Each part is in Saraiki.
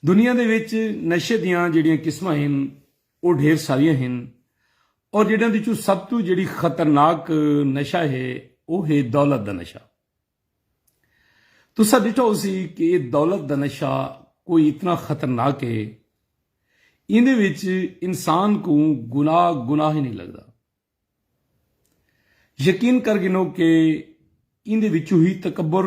دنیا دے وچ نشے دیاں جیڑھیاں قسماں ہن او ڈھیر ساریاں ہن اور جیڑھیاں دے چوں سب توں جیڑھی خطرناک نشہ ہے او ہے دولت دا نشہ۔ تساں ڈٹھا ہوسی کہ اے دولت دا نشہ کوئی اتنا خطرناک ہے ایندے وچ انسان کوں گناہ گناہ ہی نئیں لگدا۔ یقین کر گھنو کہ ایندے وچوں ہی تکبر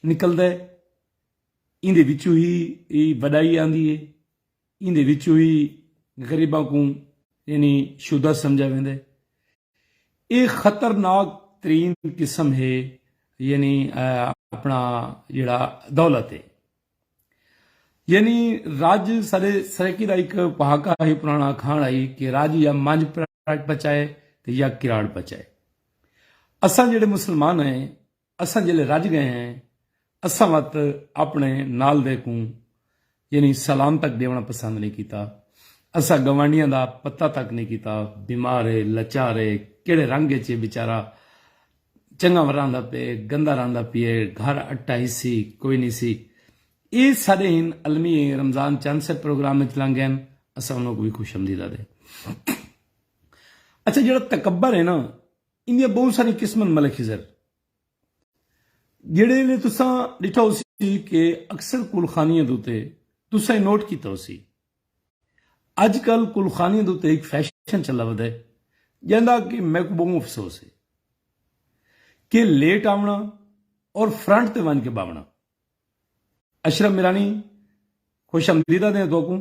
نکلدا ہے۔ ایندے وچوں ہی اے وڈائی آندی اے ایندے وچوں ہی غریباں کوں یعنی شدہ سمجھا ویندے اے خطرناک ترین قسم ہے یعنی اپنا جڑا دولت ہے یعنی راج سارے سرکی دا ایک پہاکا ہی پرانا کھان آئی کہ راج یا مانج پراٹ پچائے تے یا کراڑ پچائے اساں جڑے مسلمان ہیں اساں جیلے رج گئے ہیں اساں وت اپنے نال دے کوں یعنی سلام تک ڈیونڑا پسند نئیں کیتا اساں گوانڈیاں دا پتہ تک نئیں کیتا بیمار اے لچار اے کیڑھے رنگ اچ اے بیچارہ چنگا وراندا پئے گندا راندا پیئے گھر اٹا ہسی کوئی نئیں سی اے ساڈے ہن المی اے رمضان چند سے پروگرام اچ لنگ گئن اساں انہاں کوں وی خوش امدید آدے اچھا جیڑھا تکبر اے نا ایندیاں بہوں ساریاں قسم ہن ملک خضر جیڑھے ویلے تساں ڈٹھا ہوسی کہ اکثر کل خانیاں دوتے تساں ای نوٹ کیتا ہوسی اج کل کل خانیاں دوتے ہک فیشن چلا ودا ہے جیندا کہ میکوں بہوں افسوس ہے کہ لیٹ آونا اور فرنٹ تے ونج کے باونا اشرف میرانی خوش آمدیدہ دیں توکوں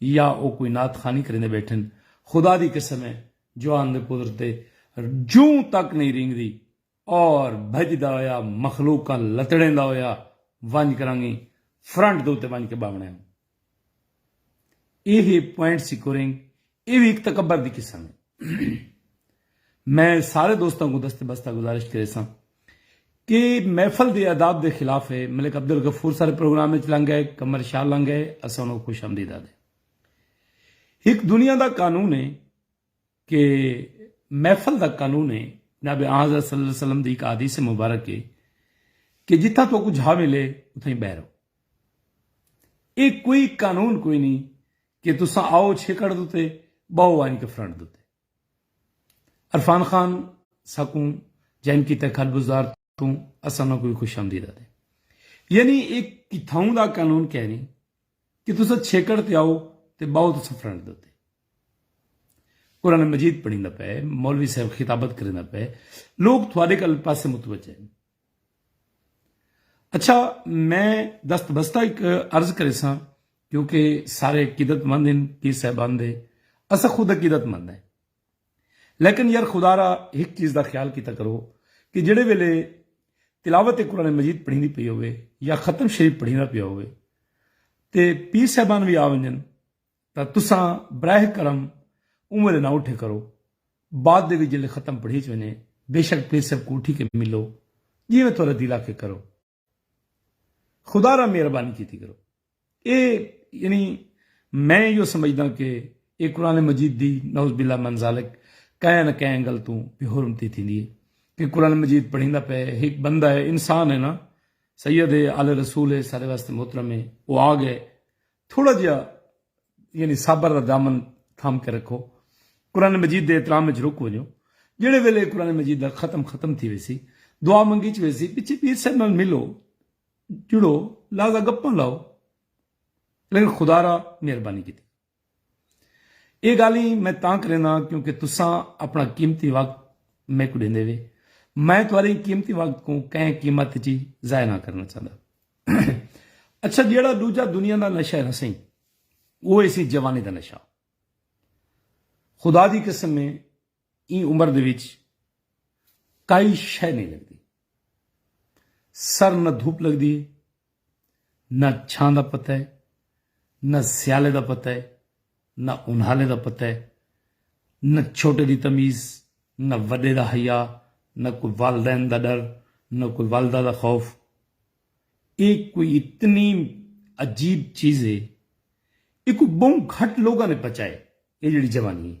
یا او کوئی نعت خوانی کریندے بیٹھن، خدا دی قسم ہے جوان دے پدر تے جوں تک نئیں رینگدی اور بھجدا ہویا مخلوقاں لتڑیندا ہویا ونج کرانگی فرنٹ دے اتے ونج کے باونڑے ہن۔ ایہہ پوائنٹ سیکورینگ ایہ وی ہک تکبر دی قسم ہے۔ میں سارے دوستاں کوں دست بستہ گزارش کریساں کہ محفل دی آداب دے خلاف ہے ملک عبدالغفور سارے پروگرام اچ لنگ گئے قمر شاہ لنگ گئے اساں انہاں کوں خوش آمدید آدھے ہک دنیا دا قانون ہے کہ محفل دا قانون ہے جناب آن حضرت صلی اللہ علیہ وسلم دی ایک حدیث مبارک ہے کہ جتھا تو کو جھا ملے اتھا ہی بہ رہو اے کوئی قانون کوئی نہیں کہ تسا آؤ چھکڑ دوتے باؤ آئیں کے فرنٹ دوتے عرفان خان ساکوں جوائن کیتا کھڈ بزدار توں اساں انہاں کوں وی خوش آمدید آدھے یعنی اے کتھاؤں دا قانون کہنی کہ تساں چھیکڑ تے آؤ تے باؤ تساں فرنٹ دے اتے قرآن مجید پڑھیندا پئے مولوی صاحب خطابت کریندا پئے لوگ تھوڑے کل پاسے متوجہ ہیں اچھا میں دست بستہ ایک عرض کرے سا کیونکہ سارے عقیدت مند ہیں پی صاحبان دے اسا خود عقیدت مند ہیں لیکن یار خدا را ایک چیز دا خیال کیتا کرو کہ جڑے ویلے تلاوت قرآن مجید پڑھی دی پی ہوئے یا ختم شریف پڑھی نہ پی ہوئے تے پی صاحبان بھی آ ونجن تاں تساں براہ کرم اوں ویلے نہ اٹھے کرو، بعد دے وچ جیلے ختم پڑھیچ ونجے، بیشک پیر صاحب کوں اٹھی کے ملو، جیویں تہاڈا دل آکھے کرو۔ خدا را مہربانی کیتی کرو۔ اے یعنی میں ایہو سمجھداں کہ اے قرآن مجید دی نعوذ باللہ من ذالک کئیں نہ کئیں اینگل توں بے حرمتی تھیندی ہے کہ قرآن مجید پڑھیندا پئے ہک بندہ ہے انسان ہے نا سید ہے آل رسول ہے سارے واسطے محترم ہے او آ گئے تھوڑا جیا یعنی صبر دا دامن تھام کے رکھو قرآن مجید دے احترام وچ رک ونجو جڑے ویلے قرآن مجید دا ختم ختم تھی ویسی دعا منگی چ ویسی پیچھے پیر صاحب نال ملو جڑو لازا گپاں لاؤ لیکن خدا را مہربانی کی یہ گال ہی میں تاں کرینا کیونکہ تساں اپنا قیمتی وقت میں کو دیندے وے میں تھوڑے قیمتی وقت کو کہیں قیمت چی ضائع نہ کرنا چاہتا اچھا جیڑا دوجا دنیا دا نشہ ہے نا سہی وہ اسی جوانی دا نشہ خدا دی قسم میں این عمر دے وچ کئی شے نہیں لگدی سر نہ دھوپ لگدی ہے نہ چھان دا پتہ ہے نہ سیالے دا پتہ ہے نہ انہالیں دا پتہ ہے نہ چھوٹے دی تمیز نہ وڈے دا حیا نہ کوئی والدین دا ڈر نہ کوئی والدہ دا خوف اے کوئی اتنی عجیب چیز ہے اے کوئی بہوں گھٹ لوگاں نے پچائے اے جیڑھی جوانی ہے۔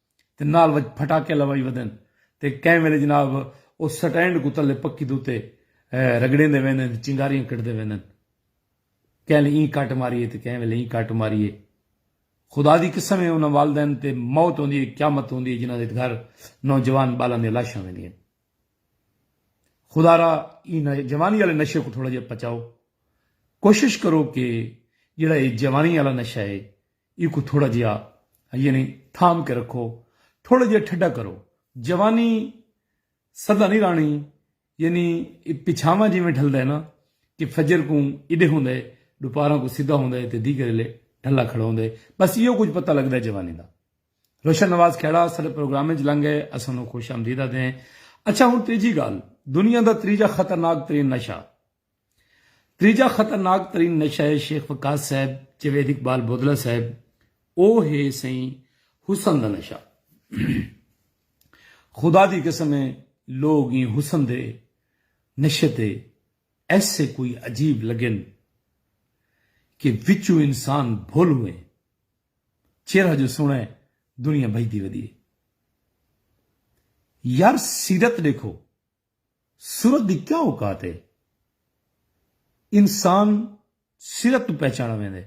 تے نال وچ پھٹاکے لوائی ودن تے کہیں ویلے جناب او سٹینڈ کوں تلے پکی دے اتے رگڑیندے ویندن تے چنگاریاں کڈھدے ویندن کہیں لے ایں کٹ ماری اے تے کہیں ویلے ایں کٹ ماری اے خدا دی قسم اے انہاں والدین تے موت ہوندی اے قیامت ہوندی اے جنہاں دے گھر نوجوان بالاں دیاں لاشاں ویندیاں خدارا ایں جوانی والے نشے کو تھوڑا جہا پچاؤ کوشش کرو کہ جڑا اے جوانی والا نشہ اے ایکوں تھوڑا جیا یعنی تھام کے رکھو تھوڑا جیا ٹھڈا کرو جوانی سدا نہیں رانی یعنی پچھاواں جیویں ڈھلدا ہے نا کہ فجر کوں ایڈے ہوندا ہے ڈوپاراں کوں سدا ہوندا ہے تے دیگر ایلے ڈھلا کھڑا ہوندا ہے بس ایہو کچھ پتہ لگدا ہے جوانی دا روشن نواز کھیڑا سارے پروگرام وچ لنگ ہے اساں نو خوش آمدید آدے ہیں اچھا ہن تیجی گال دنیا دا تریجا خطرناک ترین نشہ تریجا خطرناک ترین نشہ ہے شیخ وقاص صاحب جوید اقبال بودلا صاحب او ہے سائیں حسن دا نشہ خدا دی قسم ہے لوگ ہی حسن دے نشے تے ایسے کوئی عجیب لگن کہ وچو انسان بھول ہوئے چہرہ جو سونا ہے دنیا بھجدی ودی ہے یار سیرت دیکھو سرت دی کیا اوقات ہے؟ انسان سرت توں پہچانا ویندے،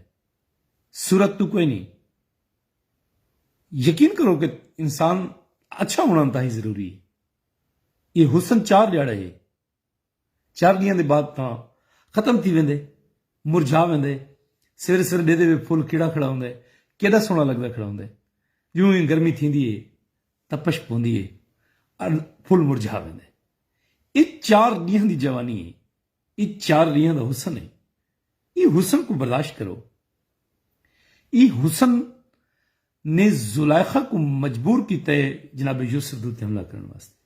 سرت توں کوئی نی۔ یقین کرو کہ انسان اچھا ہونا انتہائی ضروری ہے۔ ایہ حسن چار ڈیہاڑے ہے۔ چار ڈینہاں دے بعد تاں ختم تھی ویندے، مرجھا ویندے۔ سویرے سویرے ڈیہدے وچ پھل کھڑا کھڑا ہوندے، کیڈا سوہنا لگدا کھڑا ہوندے۔ جوں ہی گرمی تھیندی ہے۔ تپش پوندی ہے اݙ پھل مرجھا ویندے۔ اے چار ݙینہاں دی جوانی ہے۔ اے چار ݙینہاں دا حسن ہے۔ ایں حسن کوں برداشت کرو۔ ایں حسن نے زلیخا کوں مجبور کیتا ہے جناب یوسف دے اتے حملہ کرݨ واسطے۔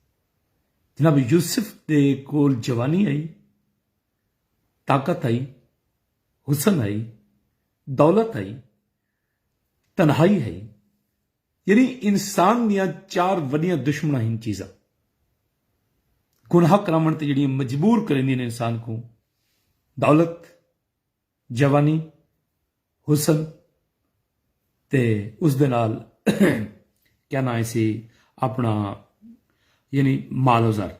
جناب یوسف دے کول جوانی ہئی، طاقت ہئی، حسن ہئی، دولت ہئی، تنہائی ہئی۔ یعنی انسان دیاں چار وݙیاں دشمناں ہن چیزاں گناہ کراوݨ تے جیڑھیاں مجبور کریندیاں ہن انسان کوں دولت، جوانی، حسن تے اس دے نال کیا ناں اسی اپنا یعنی مال و زر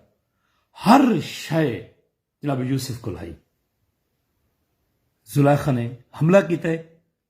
ہر شے جناب یوسف کول ہائی زلیخا نے حملہ کیتا ہے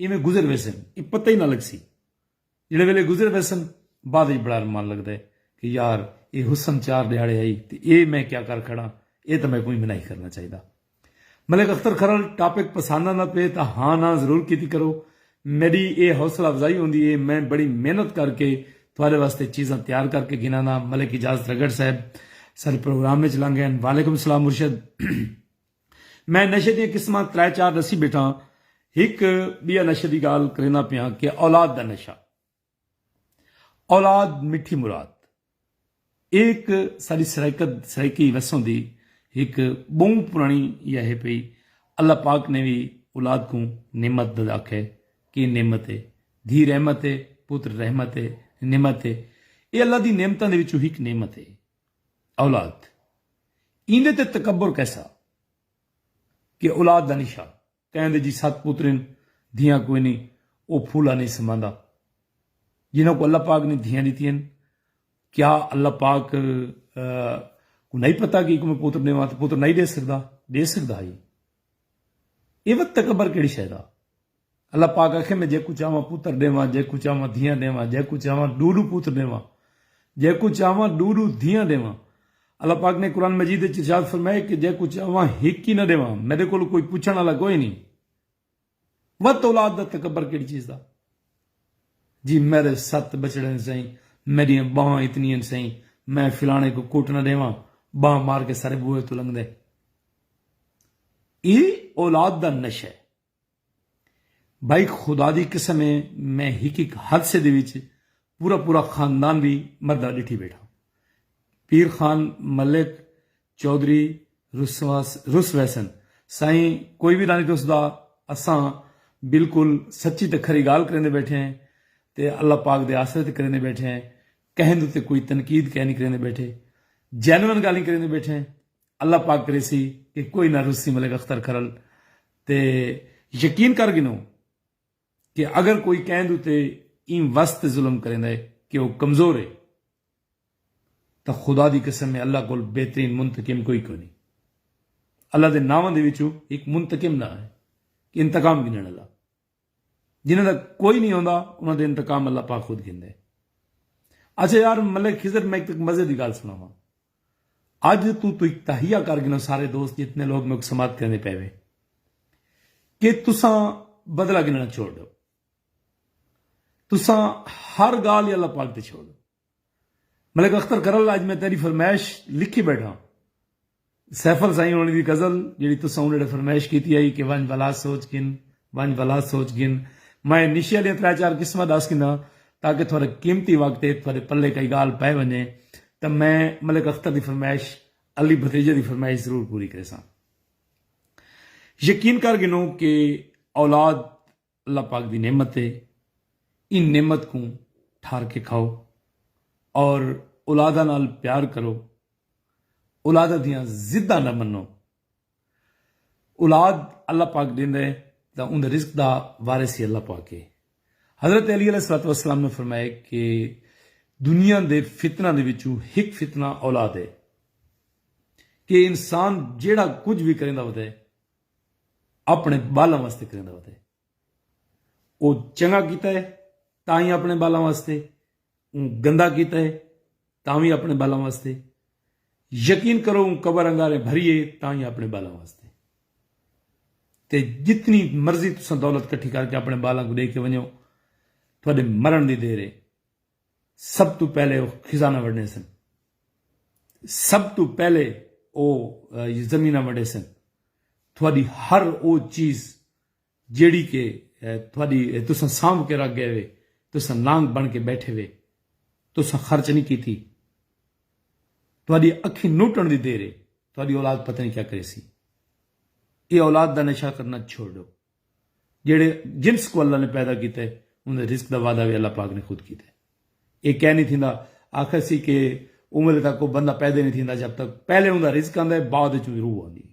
ایویں گزر ویسن ای پتہ ای نہ لگسی۔ جیڑھے ویلے گزر ویسن بعد اچ بڑا ارمان لگدا ہے کہ یار اے حسن چار ڈیہاڑے ہئی تے اے میں کیا کر کھڑاں اے تاں میکوں ایویں نہ ہی کرنا چاہیدا۔ ملک اختر کھرل ٹاپک پساند آندا پئے تاں ہاں ناں ضرور کیتی کرو۔ میڈی اے حوصلہ افزائی ہوندی ہے میں بڑی محنت کر کے تہاڈے واسطے چیزاں تیار کر کے گھنانا۔ ملک اجازت رگڑ صاحب ساڈے پروگرام اچ لنگ گئن۔ وعلیکم السلام مرشد۔ میں نشے دیاں قسماں ترے چار ڈسی بیٹھاں ہک بیا نشے دی گال کریندا پیاں کہ اولاد دا نشہ اولاد مٹھی مراد ایک ساری سرائیکت سرائیکی وسوں دی ہک بہوں پرانی یا ہے پئی اللہ پاک نے بھی اولاد کو نعمت دد آکھے کہ نعمت ہے دھی رحمت ہے پتر رحمت ہے نعمت ہے اے اللہ دی نعمتاں دے وچوں ہک نعمت ہے اولاد ایندے تے تکبر کیسا کہ اولاد دا نشان کہیں دے جی ست پتر ہن دھیاں کوئی نی او پھولا نی سماندا جنہاں کوں اللہ پاک نے دھیاں ڈتی ہن کیا اللہ پاک کو نہیں پتا کہ ایکوں میں پتر ڈیواں تے پتر نہیں دے سکدا دے سکدا ہی اے وت تکبر کیڑی شے دا اللہ پاک آکھے میں جیکوں چاہواں پتر ݙیواں جیکوں چاہواں دھیاں ݙیواں جیکوں چاہواں ݙو ݙو پوت ݙیواں جیکوں چاہواں ݙو ݙو دھیاں ݙیواں اللہ پاک نے قرآن مجید وچ ارشاد فرمائے کہ جیکوں چاہواں ہک ہی نہ ݙیواں میݙے کولوں کوئی پچھݨ والا کوئی نہیں وت اولاد دا تکبر کیڑی چیز دا جی میرے ست بچڑے سائیں میڈیاں باواں اتنی سائیں میں فلانے کو کوٹ نہ دیواں باں مار کے سارے بوئے تو لنگ دے ای اولاد دا نشہ ہے بھائی خدا دی قسم ہے میں ہک ہک حادثے دے وچ پورا پورا خاندان وی مردا ڈٹھی بیٹھا پیر خان ملک چوہدری رس ویسن سائیں کوئی وی رانی تس دا اساں بالکل سچی تے کھری گال کریندے بیٹھے ہیں تے اللہ پاک دے آسرے تے کریندے بیٹھے ہیں کہیں دے تے کوئی تنقید کہنی کریندے بیٹھے جینون گالیں کریندے بیٹھے ہیں اللہ پاک کریسی کہ کوئی نہ رسی ملک اختر کھرل تے یقین کر گھنوں کہ اگر کوئی کیند اتے ایں وس تے ظلم کریندہ ہے کہ او کمزور ہے تاں خدا دی قسم ہے اللہ کول بہترین منتقم کوئی کونی اللہ دے ناواں دے وچوں ہک منتقم ناں ہے انتقام گھنن آلا۔ جنہاں دا کوئی نہیں ہوندا انہاں دے انتقام اللہ پاک خود گھندے ہیں اچھا یار ملک خضر میں ایک مزے دی گال سنا ہوں اج تو تو ایک تہیہ کر گنو سارے دوست جتنے لوگ میں سماعت کرنے پہ ہوئے کہ تساں بدلہ گننا چھوڑ دو تساں ہر گال یا اللہ پاک تے چھوڑ دو ملک اختر کرل اج میں تیڈی فرمائش لکھی بیٹھاں۔ سیفل سائیں ہوݨی دی غزل جیڑھی تساں اونہیڑے فرمائش کیتی ہئی کہ ونج بھلا سوچ گھن ونج بھلا سوچ گھن میں نشے آلیاں ترے چار قسماں ڈس گھناں تاکہ تھوڑا قیمتی وقت ہے تھوڑے پلے کئی گال پے ونجے تاں میں ملک اختر دی فرمائش علی بھتریجے دی فرمائش ضرور پوری کریساں۔ یقین کر گھنو کہ اولاد اللہ پاک دی نعمت ہے ان نعمت کوں ٹھار کے کھاؤ اور اولادہ نال پیار کرو اولادہ دیاں زدہ نہ منو اولاد اللہ پاک دین دے دا ان رزق دا وارثی اللہ پاک ہے حضرت علی علیہ السلام والسلام نے فرمایا کہ دنیا دے فتنہ دے وچو ہک فتنہ اولاد ہے کہ انسان جیڑا کچھ بھی کریں دا ہوتا ہے اپݨے ٻالاں واسطے کریندا وتے او چنگا کیتا ہے تاں ہی اپݨے ٻالاں واسطے اوں گندا کیتا ہے تاں وی اپݨے ٻالاں واسطے یقین کرو اوں قبر انگارے بھریے تاں ہی اپݨے ٻالاں واسطے تے جتنی مرضی تساں دولت کٹھی کر کے اپنے بالاں کو دے کے ونجو تھوڑے مرن دی دیر ہے سب توں پہلے او خزانہ ونڈے سن۔ سب توں پہلے او زمیناں ونڈے سن۔ تہاڈی ہر او چیز جیہڑی کہ تہاڈی تساں سانبھ کے رکھ گئے وے تساں نانگ بن کے بیٹھے وے تساں خرچ نی کیتی۔ تہاڈی اکھیں نوٹن دی دیر اے تہاڈی اولاد پتہ نی کیا کریسی۔ اے اولاد دا نشہ کرنا چھوڑ ڈو۔ جیڑھے جنس کوں اللہ نے پیدا کیتا ہے اوندے رزق دا وعدہ وی اللہ پاک نے خود کیتا ہے۔ ایہ کئے نی تھیندا، آکھاسی کہ اوملے تک کوئی بندہ پیدے نی تھیندا جب تک پہلے اوندا رزق آندا ہے بعد اچ اوندی روح آندی ہے۔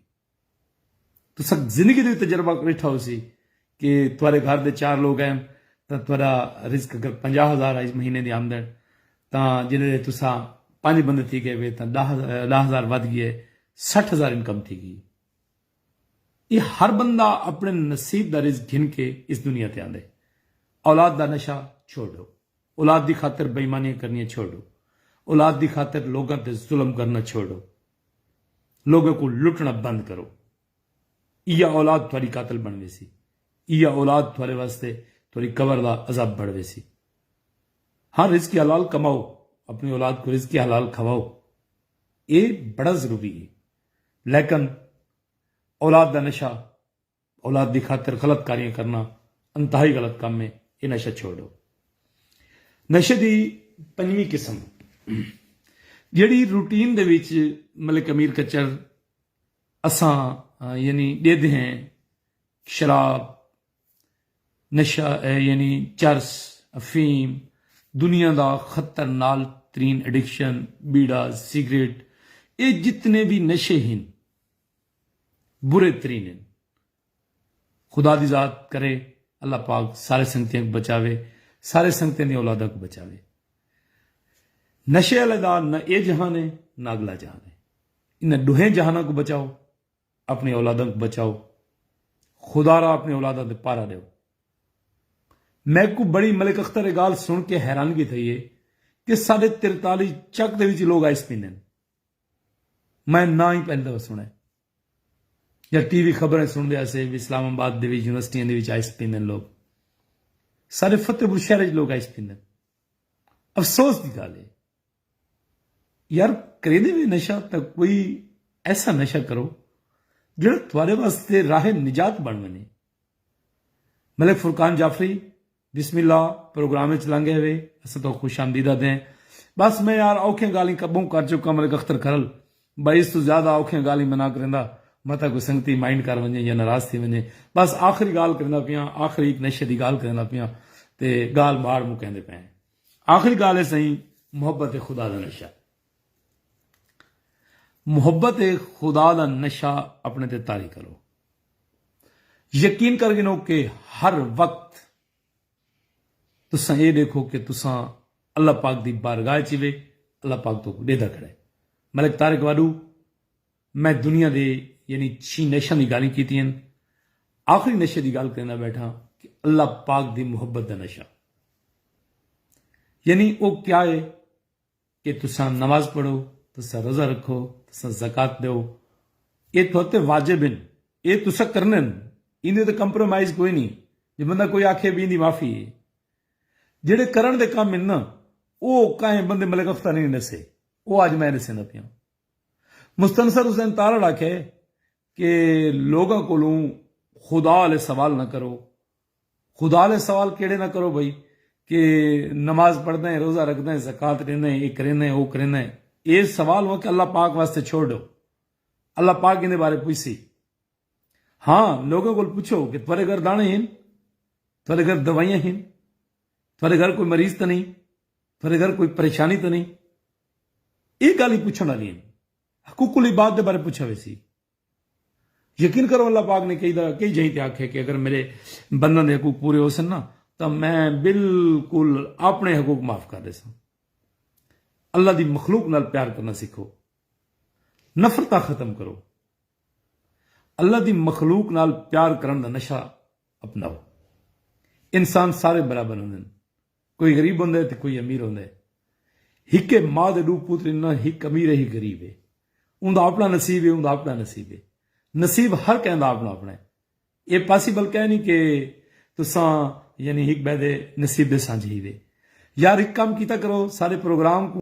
تساں زندگی دا وی تجربہ ڈٹھا ہوسی کہ تہاڈے گھر دے چار لوگ ہن تاں تہاڈا رزق اگر پنجاہ ہزار ہئی مہینے دی آمدن تاں جیڑھے تساں پنج بندے تھی گئے وے تاں ڈاہ ہزار ودھ گئے سٹھ ہزار انکم تھی گئی۔ اے ہر بندہ اپݨے نصیب دا رزق گھن کے اس دنیا تے آندے۔ اولاد دا نشہ چھوڑ ݙو۔ اولاد دی خاطر بے ایمانیاں کرݨیاں چھوڑ ݙو۔ اولاد دی خاطر لوکاں تے ظلم کرݨا چھوڑ ݙو۔ لوکاں کوں لٹݨا بند کرو۔ ایہا اولاد تہاݙی قاتل بݨ ویسی۔ ایہا اولاد تہاݙے واسطے تہاݙی قبر دا عذاب بݨ ویسی۔ ہاں رزق حلال کماؤ۔ اپݨی اولاد کوں رزق حلال کھاؤ۔ اے بڑا ضروری ہے۔ لیکن اولاد دا نشہ اولاد دی خاطر غلط کاریاں کرنا انتہائی غلط کم ہے یہ نشہ چھوڑو نشے دی پنجویں قسم جیڑی روٹین دے وچ ملک امیر کچر اساں یعنی ڈیدھ ہیں شراب نشہ اے یعنی چرس، افیم، دنیا دا خطر نال ترین ایڈکشن، بیڑا، سگریٹ اے جتنے وی نشے ہن برے ترین ہن خدا دی ذات کرے اللہ پاک سارے سنگتیاں کوں بچاوے سارے سنگتیاں دی اولاداں کوں بچاوے نشے آلے دا نہ اے جہان اے نہ اگلا جہان اے انہاں ڈوہیں جہاناں کوں بچاؤ اپݨی اولاداں کوں بچاؤ۔ خدا را اپݨی اولاداں تے پہرا ݙیو۔ میکوں بݨی ملک اختر اے ڳالھ سݨ کے حیرانگی تھئی اے کہ ساݙے ترتالی چک دے وچ لوک آئس پیندن۔ میں ناں ای پہلی دفعہ سݨئے۔ یا ٹی وی خبراں سݨدے ہاسے وی اسلام آباد دے وچ یونیورسٹیاں دے وچ آئس پیندن لوک۔ ساݙے فتح پور شہر وچ لوک آئس پیندن۔ افسوس دی ڳالھ اے۔ یار کریندے وی نشہ تاں کوئی ایسا نشہ کرو جیڑھا تہاڈے واسطے راہ نجات بن ونجے۔ ملک فرقان جعفری بسم اللہ پروگرام اچ لنگ ایوے اساں تہاکوں خوش آمدید آدھدے ہیں۔ بس میں یار اوکھیاں گالھیں کبھوں کر چکاں ملک اختر کھرل بھائی اس توں زیادہ اوکھیاں گالھیں میں نہ کریندا متاں کوئی سنگتی مائنڈ کر ونجے یا ناراض تھی ونجے بس آخری گالھ کریندا پیاں آخری ہک نشے دی گالھ کریندا پیاں تے گالھ ماڑ مکیندے پئے ہیں۔ آخری گالھ ہے سائیں محبت خدا دا نشہ محبت خدا دا نشہ اپنے تے تاری کرو یقین کر گنو کہ ہر وقت تساں یہ دیکھو کہ تساں اللہ پاک دی بارگاہ چیوے اللہ پاک تو ڈیدہ کھڑے ملک تارک وادو میں دنیا دے یعنی چھی نشاں دی گالھیں کیتی ہن آخری نشے دی گال کریندا بیٹھاں کہ اللہ پاک دی محبت دا نشہ یعنی او کیا ہے کہ تساں نماز پڑھو تساں روزہ رکھو تساں زکات دیو اے تھوتے واجب ہن اے تساں کرنے ہن ایندے تے کمپرومائز کوئی نہیں جے بندہ کوئی آکھے بھی ایندی معافی ہے جڑے کرن دے کم ہن نا او کہیں بندے ملک اختہ نہیں نسے او اج میں نسے نہ پیاں مستنصر حسین تارڑ آکھیا کہ لوگاں کولوں خدا آلے سوال نہ کرو، خدا آلے سوال کیڑھے نہ کرو بھئی کہ نماز پڑھداں اے، روزہ رکھداں اے، زکوۃ ڈینداں اے، اے کرینداں اے، او کرینداں اے، اے سوال ہوئن کہ اللہ پاک واسطے چھوڑ ڈیو، اللہ پاک ایندے بارے پچھسی۔ ہاں لوگاں کول پچھو کہ تہاڈے گھر دانے ہن؟ تہاڈے گھر دوائیاں ہن؟ تہاڈے گھر کوئی مریض تاں نئیں؟ تہاڈے گھر کوئی پریشانی تاں نئیں؟ ایہ گالھیں پچھن آلیاں ہن۔ حقوق العباد دے بارے پچھیا ویسی۔ یقین کرو اللہ پاک نے کئی دا کئی جہیں تے آکھیا کہ اگر میرے بنداں دے حقوق پورے ہوسن نا تاں میں بالکل اپنے حقوق معاف کر ڈیساں۔ اللہ دی مخلوق نال پیار کرنا سکھو۔ نفرتاں ختم کرو۔ اللہ دی مخلوق نال پیار کرݨ دا نشہ اپناؤ۔ انسان سارے برابر ہوندن۔ کوئی غریب ہوندا ہے تے کوئی امیر ہوندا ہے۔ ہکے ماء دے ݙو پتر ہن نہ ہک امیر ہے ہک غریب ہے۔ اوندا اپݨا نصیب ہے اوندا اپݨا نصیب ہے۔ نصیب ہر کہیں دا اپݨا اپݨا ہے۔ ایہ پاسیبل کائے نی کہ تساں یعنی ہک ٻئے دے نصیب دے سانجھے ہیوے۔ یار ہک کم کیتا کرو سارے پروگرام کوں۔